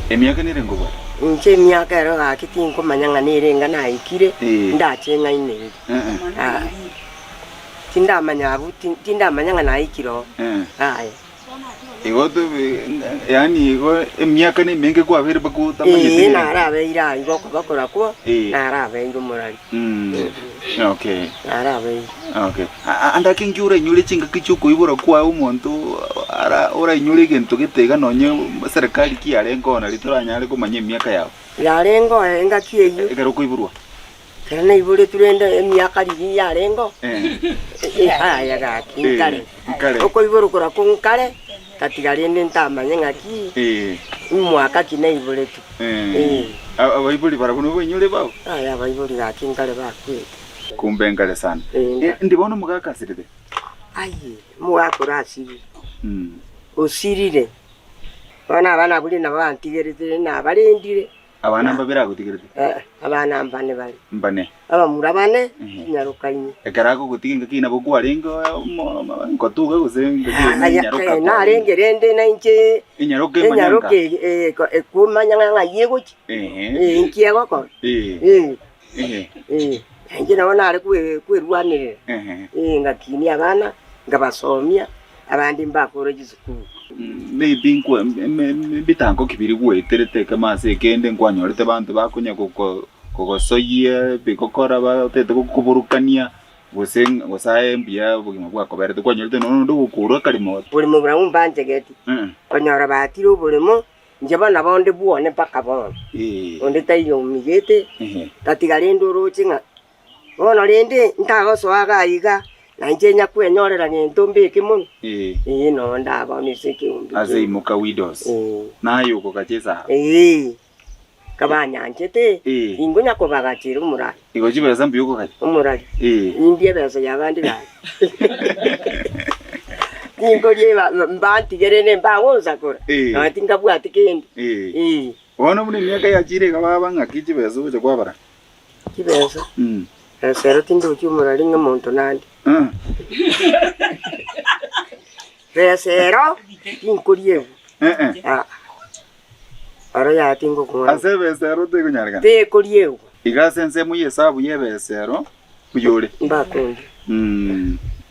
Emiaka nere nkobwata. Inche emiaka ero gaki tinkomanya ng'a nere enga naikire Eh. ndache ng'aine eri. Eh, eh, Ah, Tindamanya abwo, ti- tindamanya ng'a naikire oo. eh. Aye. Igo tobe, yaani igo emiaka nemenge kwabeire mpaka otamanyeti Ee, rende. narabeire ange okobakora kwa, Ee. narabeire omorari, Mm, okay. narabeire. Okay. A- a- Ande ake inki orainyore chingaki chiokoibora kwaye omonto ara- orainyore egento gete iga nonye serikali ki yarenge ona rito oranyare komanya emiaka yao Yarenge oe engaki eyio, ekero okoiborwa? Ekero naiboretwe rende emiaka rigiya yarengeo, aye gaki nkare, nkare. okoiborokora ko nkare gatiga rende ntamanye ng'aki imwaka ki naiboretwe. Eh. A- Abaibori barabwo nigo bainyore bao. Aye abaibori gaki nkare bakwete. Kumbe nkare sana. Eh, nka- Eh, ndi bono mogakasirire. Aye, omogaka orasiri, Mm. osirire. Bono abana buna nabo bantigerete nabarendire. Abana mbabere agotigerete? Ee, abana mbane bare. Mbane. Abamura bane, Ehe. nyaroka inye. Ekero agogotiga engaki eye nabo kwarenge omo- ngotuga gose engaki eye Aya, nenyaroka eh, kwarenge. narenge rende nainche Enyaroka emanyanga. enyaroka eye, eh, ko- ekomanya ng'a ng'ai egochia, Ehe. eh, inki egokora. Eh. Eh, Ehe. Eh, inche nabo nare kwe- kwerwanerera, Ehe. eh, ngakinia abana, nkabasomia, abande mbakore chisukuru. Mm, Maybe nkwe me- me- ebitango ki biria gweterete ekemo ase ekende nkwanyorete abanto bakonya goko- kogosoyia ebigokora batete gokoborokania gose ng- gose aye mbuya obogima bwakoberete kwanyorete nonya onde ogokourwa akarimo. Oboremo buna mbanchegeti, Eh, konyora batire oboremo, Inche bana bao ndi bwone mpaka bono, onde taiyo omigete, gatiga rende oroche ng'a bono rende ntagosoa iga na iga, na inche inyakwenyorera gento mbe ekemono? Ee, nonya ndabao nise ekeombe Ase keria. imoka Widows, Ee. naye okogacha esara. Ee, nkabanyanchete, Ee. tinkonya kobagachera omoraro. Igo chibesa mbuya okogania. Omorari, Nindie ebesa y'abande gaki. Ninkorie mbantigere nembagonsakora, nonya tinkabwati kende. Bono buna emiaka yachire iga baba ng'aki chibesa ogocha kwabarana? Chibesa? Ase ero tindochi omorari ng'a omonto nande. Resero ninkoriegwe. Aa. Aro yati ngokora. Ase ebesero tekonyarekana. Tekoriegwa. Iga ase ensemo y'esabu y'ebesero oyore. Mbakonde.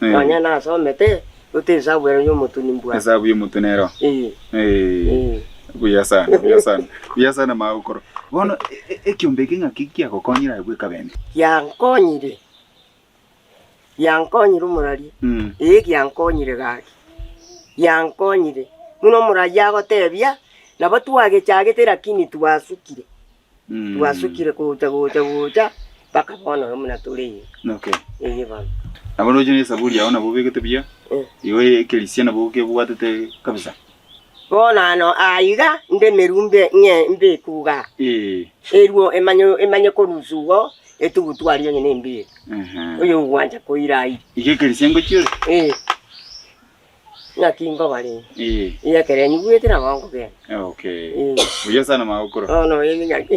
Nonya nasomete gote esabu ero y'omotuni mbwate. Esabu y'omotuni ero. Ee. Buya sana, buya sana. Buya sana magokoro. Bono ekiombe eke ng'aki kiagokonyire aye bweka bende? Kiankonyire. Giankonyire omoraria, ee giankonyire gaki, giankonyire. Buna omoraria agotebia, nabo twagechagete lakini twasukire, twasukire gocha gocha gocha mpaka bono oyo buna tore iga. Okay. Eye bono. Nabo oroche na esaburi yao nabo obegete buya, Eh. igo ekerisia nabo okebwatete kabisa. Bonano aa iga nde merumbe ng'e mbekuga, eruo emanye emanye korusu ugo etugutu aria onye nembie oyogwancha koira aire. Iga ekero ise ngochire. Ee. Naki ngobare iga ekero nyigwete nabo nkogenda. Okay. Ee. Oyio sana magokora. Bono oyo ning'ake.